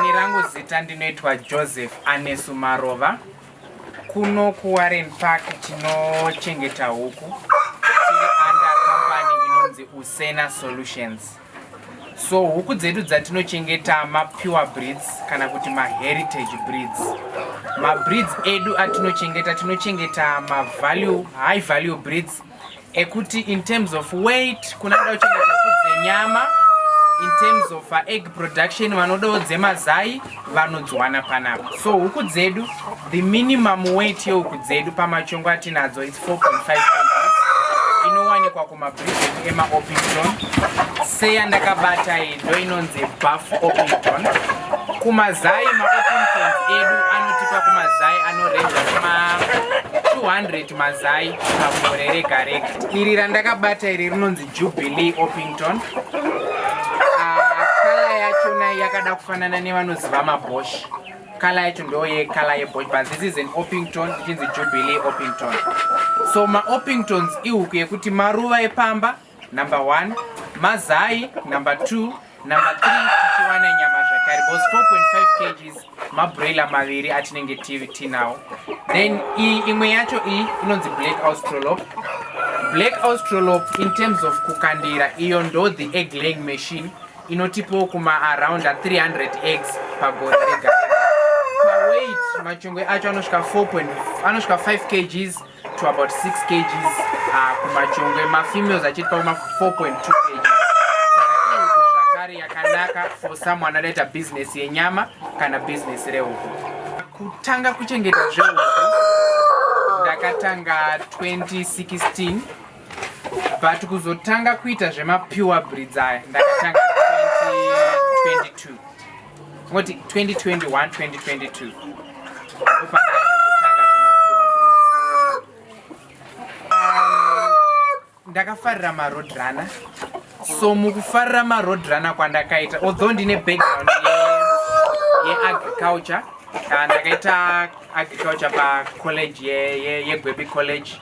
Ini rangu zita ndinoitwa Joseph Anesu Marova. Kuno kuWarren Park tinochengeta huku tiri under company inonzi Usena Solutions. So huku dzedu dzatinochengeta mapure breeds kana kuti maheritage breeds. Mabreeds edu atinochengeta tinochengeta mavalue, high value breeds ekuti in terms of weight kuna da uchengeta kudze nyama in terms of uh, egg production vanodawo dzemazai vanodzwana panapa so huku dzedu the minimum weight yehuku dzedu pamachongo atinadzo its 4.5 inowanikwa kumabridget emaopington seya ndakabata iyi ndo inonzi buff opington kumazai maopington edu anotipa kumazai anorenja kuma 200 Mazai pagore rega rega. Iri randakabata iri rinonzi Jubilee Opington. Ah, kala yacho nayo yakada kufanana nevanoziva maboshi. Kala yacho ndo yekala yeboshi but this is an Opington ichinzi Jubilee Opington. So maOpingtons ihuku yekuti maruva epamba Number one, mazai. Number two, number three, tichiwana nyama zvakare because 4.5 kgs mabroiler maviri atinenge tinawo. Then imwe yacho iyi inonzi black australop. Black australop in terms of kukandira iyo ndo the egg laying machine inotipawo kuma around 300 eggs pagore rega. Paweight machongwe acho anosvika 4. anosvika 5 kgs to about 6 kgs uh, kumajongwe mafemales achiri pakuma 4.2 kgs zvakare yakanaka for someone anoita business yenyama kana business rehuku kutanga kuchengeta zvehuku ndakatanga 2016 but kuzotanga kuita zvemapure breeds aya ndakatanga 2022 Moti 2021 2022. Ndakafarira ma road runner. So mukufarira ma road runner kwandakaita although ndine background ye agriculture ndakaita agriculture pa college ye ye, ye Gwebi college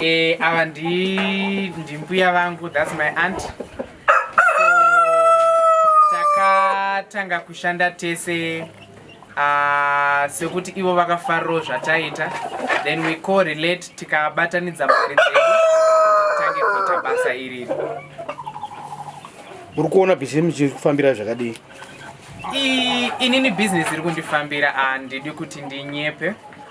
Eh, ava ndimbuya vangu thats my aunt so takatanga kushanda tese uh, sekuti ivo vakafarirawo zvataita then we co relate tikabatanidza mari dzedu tange kuita basa iriri uri kuona bhizinesi chiri kufambira zvakadii inini bhizinesi iri kundifambira handidi kuti ndinyepe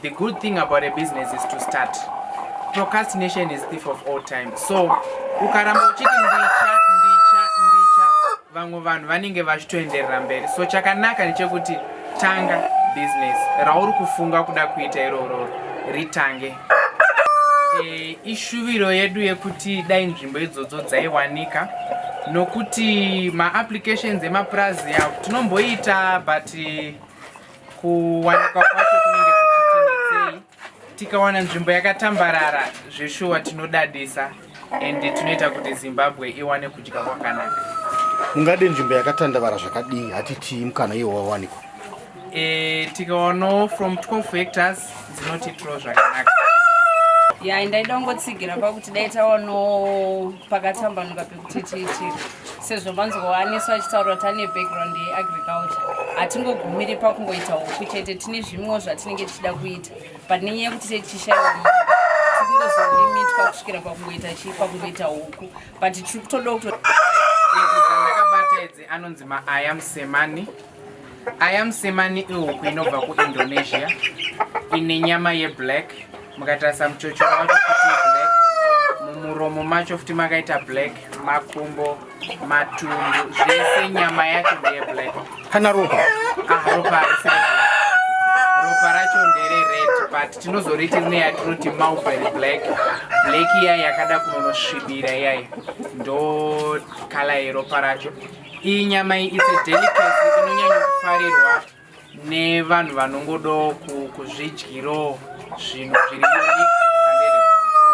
The good thing about a business is to start. Procrastination is thief of all time. So, ukaramba uchiti ndicha, ndicha, ndicha, vamwe vanhu vanenge vachitoenderera mberi. So, chakanaka ndechekuti tanga business rauri kufunga kuda kuita iroro ritange. E, ishuviro yedu yekuti dai nzvimbo idzodzo dzaiwanika nokuti maapplications emapurazi avo tinomboita but kuwanikwa kwacho kunenge kuchitinetsei tikawana nzvimbo yakatambarara zveshuwa tinodadisa and tinoita kuti zimbabwe iwane kudya kwakanaka mungade nzvimbo yakatandavara zvakadii hatitii mukana iwo wawanikwa e, tikawanawo from 12 hectors dzinotitiro zvakanaka ya ndaida kungotsigira pakuti dai tawanawo pakatambanuka pekuti tiitire sezvo manzwowaniso achitaura kuti ane background yeagriculture hatingogumiri pakungoita huku chete tine zvimwewo zvatinenge tichida kuita but nenyaya yekuti tetichishaiwa tikungozolimitwa kusvikira pakungoita chii pakungoita huku but tiri kutoda kuto ndakabata idzi anonzi maaya musemani Aya musemani ihuku inobva kuIndonesia ine nyama yeblack mukatarisa muchochoro wacho futi black mumuromo macho futi makaita black makumbo matumbu zvese nyama yacho ndeyeblack kana ropa ah, ropa haisi ropa racho nderered but tinozoriti rine yatinoti mulberry black black iya yakada kunonosvibira iyayi ndo kala yeropa racho Iyi nyama iyi it's a delicacy inonyanya kufarirwa nevanhu vanongodo kuzvidyiro zvinhu zviri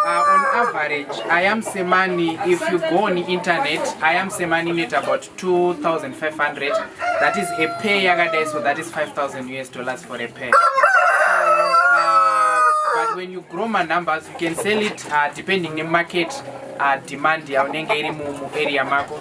Uh, on average, I am Semani, if you go on internet, I am Semani net about 2,500. That is a pay yagada, so that is 5,000 US dollars for a pay. Uh, but when you grow my numbers, you can sell it uh, depending on market uh, demand, ya unenge iri mu area mako.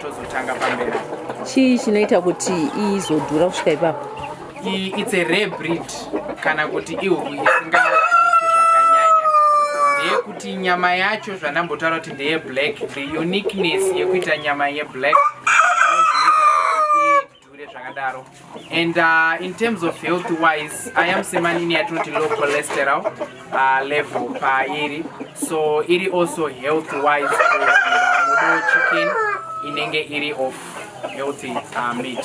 tozotanga pamberi chii chinoita kuti izodhura kusvika ipapo it's a rare breed kana kuti ihuku isingawaniki zvakanyanya ndeyekuti nyama yacho zvandambotaura kuti ndeye black the uniqueness yekuita nyama yeblack dhure zvakadaro and uh, in terms of health wise i am semanini yatinoti low cholesterol uh, level pairi so iri also health wise for uh, chicken inenge iri of healthy uh, meat